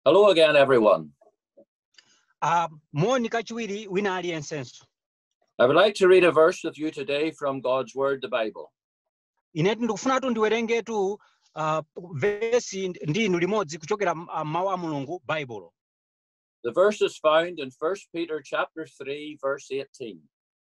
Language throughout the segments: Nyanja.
Hello again, everyone. Uh, moni kachiwiri wina aliyensenso I would like to read a verse with you today from God's Word, the Bible. inetu ndikufunatu ndiwerengetu uh, vesi nd- ndi inu limodzi kuchokera m- ah, mawu a mulungu baibulo The verse is found in 1 Peter chapter 3, verse 18.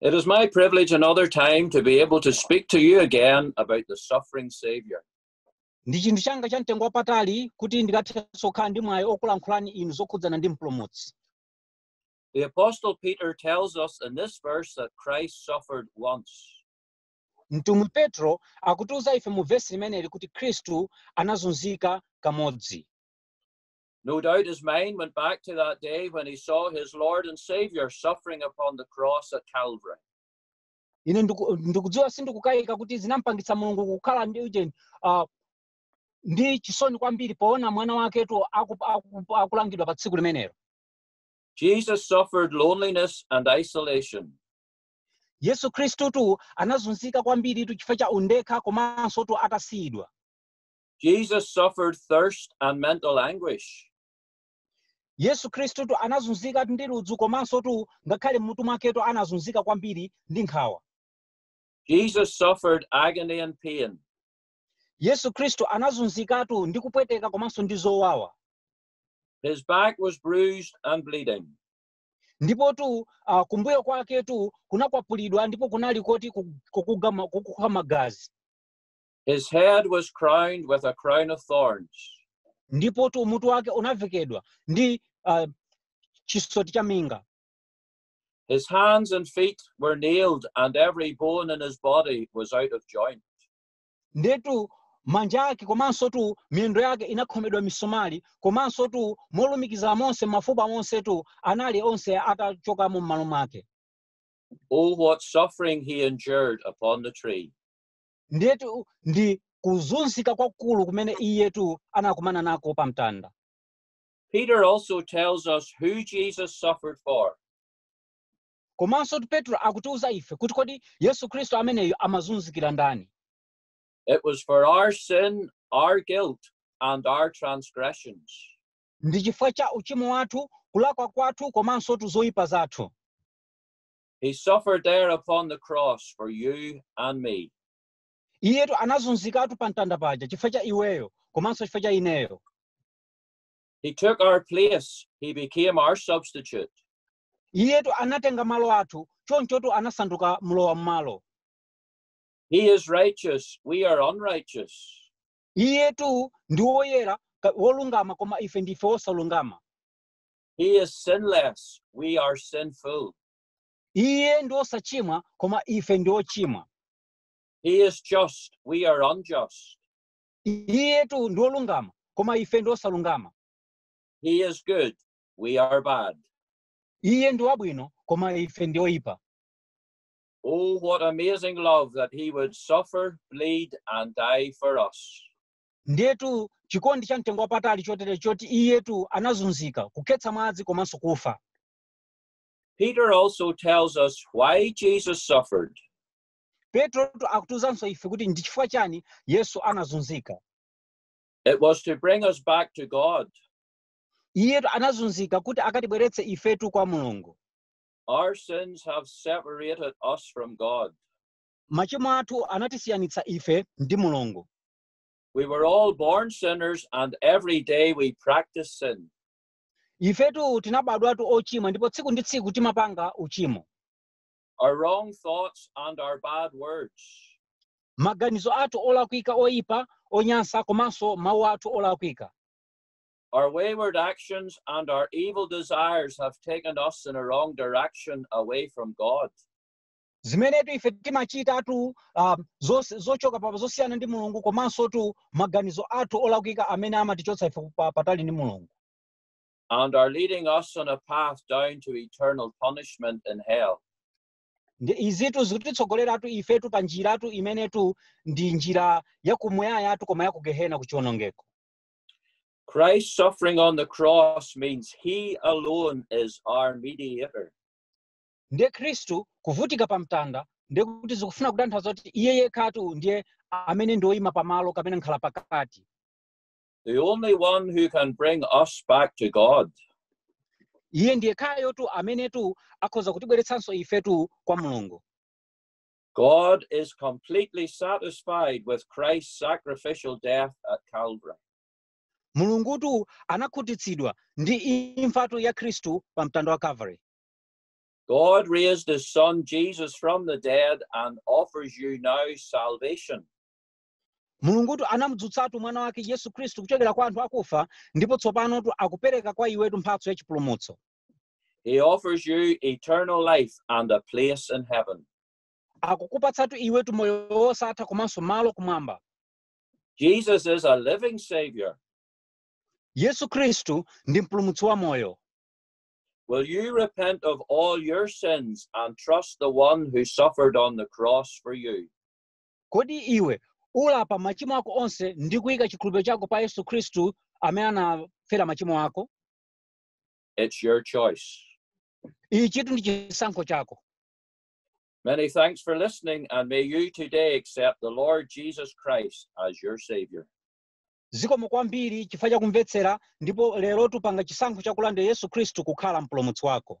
It is my privilege another time to be able to speak to you again about the suffering Savior. ndi chinthu changa cha mtengo wapatali kuti ndikathenso kukhala ndi mwayi okulankhulani inu zokhudzana ndi mpulumutsi The Apostle Peter tells us in this verse that Christ suffered once. mtumwi petro akutiuza ife mu vesi limeneli kuti khristu anazunzika kamodzi No doubt his mind went back to that day when he saw his Lord and Savior suffering upon the cross at Calvary. ine ndiku- ndikudziwa sindikukayika kuti zinampangitsa mulungu kukhala ndi ujeni ah, ndi chisoni kwambiri poona mwana waketu aku- aku- akulangidwa pa tsiku limenelo Jesus suffered loneliness and isolation. yesu khristutu anazunzika kwambiritu chifukwa cha undekha komanso tu atasiyidwa Jesus suffered thirst and mental anguish. yesu khristutu anazunzika ndi ludzu komanso tu ngakhale m'mutu mwaketu anazunzika kwambiri ndi nkhawa Jesus suffered agony and pain. yesu khristu anazunzikatu ndi kupweteka komanso ndi zowawa His back was bruised and bleeding. ndipo tu uh, kumbuyo kwake tu kunakwapulidwa ndipo kunali koti ku- kukugama- kukukha magazi His head was crowned with a crown of thorns, ndipo tu mutu wake unavekedwa ndi uh, chisoti cha minga his hands and feet were nailed, and every bone in his body was out of joint. nditu manja ake komanso tu miyendo yake inakhomedwa misomali komanso tu molumikiza monse mafupa monse tu anali onse atachokamo m'malo mwake Oh, what suffering he endured upon the tree! ndiyetu ndi kuzunzika kwakulu kumene iyetu anakumana nako pa mtanda Peter also tells us who Jesus suffered for. komanso tu petro akutiuza ife kuti kodi yesu khristu ameneyo amazunzikira ndani It was for our sin, our guilt, and our transgressions. ndi chifukwa cha uchimo wathu kulakwa kwathu komanso tu zoyipa zathu He suffered there upon the cross for you and me. iyetu anazunzikatu pa mtanda paja chifukwa cha iweyo komanso chifukwa cha ineyo He took our place. He became our substitute. iyetu anatenga malo athu chonchotu anasanduka mlowa mmalo He is righteous. We are unrighteous. iyetu ndi woyera ka- wolungama koma ife ndife osalungama He is sinless. We are sinful. iye ndi osachimwa koma ife ndi ochimwa He is just. We are unjust. iyetu ndi olungama koma ife ndi osalungama He is good. We are bad. iye ndi wabwino koma ife ndi oyipa Oh, what amazing love that he would suffer, bleed, and die for us. Ndiyetu chikondi cha mtengo wapatali chotere choti iyetu anazunzika, kukhetsa mwazi komanso kufa. Peter also tells us why Jesus suffered. Petrotu akutiuzanso ife kuti ndi chifukwa chani Yesu anazunzika. It was to bring us back to God. Iyetu anazunzika kuti akatibweretse ifetu kwa Mulungu. Our sins have separated us from God. Machimo athu anatisiyanitsa ife ndi Mulungu. We were all born sinners, and every day we practice sin. Ifetu tinabadwatu ochimwa ndipo tsiku ndi tsiku timapanga uchimo. Our wrong thoughts and our bad words. Maganizo athu olakwika oyipa, onyansa komanso mawu athu olakwika. Our wayward actions and our evil desires have taken us in a wrong direction away from God. zimenetu ife timachitatu uh, zos- zochoka pa- zosiyana ndi mulungu komansotu maganizo athu olakwika amene amatichotsa ife pa- patali ndi mulungu and are leading us on a path down to eternal punishment in hell. izitu zikutitsogoleratu ifetu pa njiratu imenetu ndi njira yakumuyayatu koma yakugehena kuchiwonongeko Christ's suffering on the cross means he alone is our mediator. ndiye khristu kuvutika pa mtanda ndiye kuti zikufuna kutanthauza kuti iye yekhatu ndiye amene ndi woyima pamalo kapena mkhalapakati the only one who can bring us back to God. iye ndi yekhayotu amenetu akhoza kutibweretsanso ifetu kwa mulungu God is completely satisfied with Christ's sacrificial death at Calvary. mulungutu anakhutitsidwa ndi imfatu ya khristu pa mtanda wa calvary God raised his son Jesus from the dead and offers you now salvation. mulungutu anamudzutsatu mwana wake yesu khristu kuchokera kwa anthu akufa ndipo tsopanotu akupereka kwa iwetu mphatso ya chipulumutso He offers you eternal life and a place in heaven. akukupatsatu iwetu moyo wosatha komanso malo kumwamba Jesus is a living Savior. yesu khristu ndi mpulumutsi wa moyo Will you repent of all your sins and trust the one who suffered on the cross for you? kodi iwe ulapa machimo ako onse ndi kuyika chikhulupiriro chako pa yesu khristu amene anafera machimo ako It's your choice. ichitu ndi chisankho chako Many thanks for listening, and may you today accept the Lord Jesus Christ as your Savior. Zikomo kwambiri chifukwa cha kumvetsera ndipo lerotu panga chisankho cha kulandira Yesu Khristu kukhala mpulumutsi wako.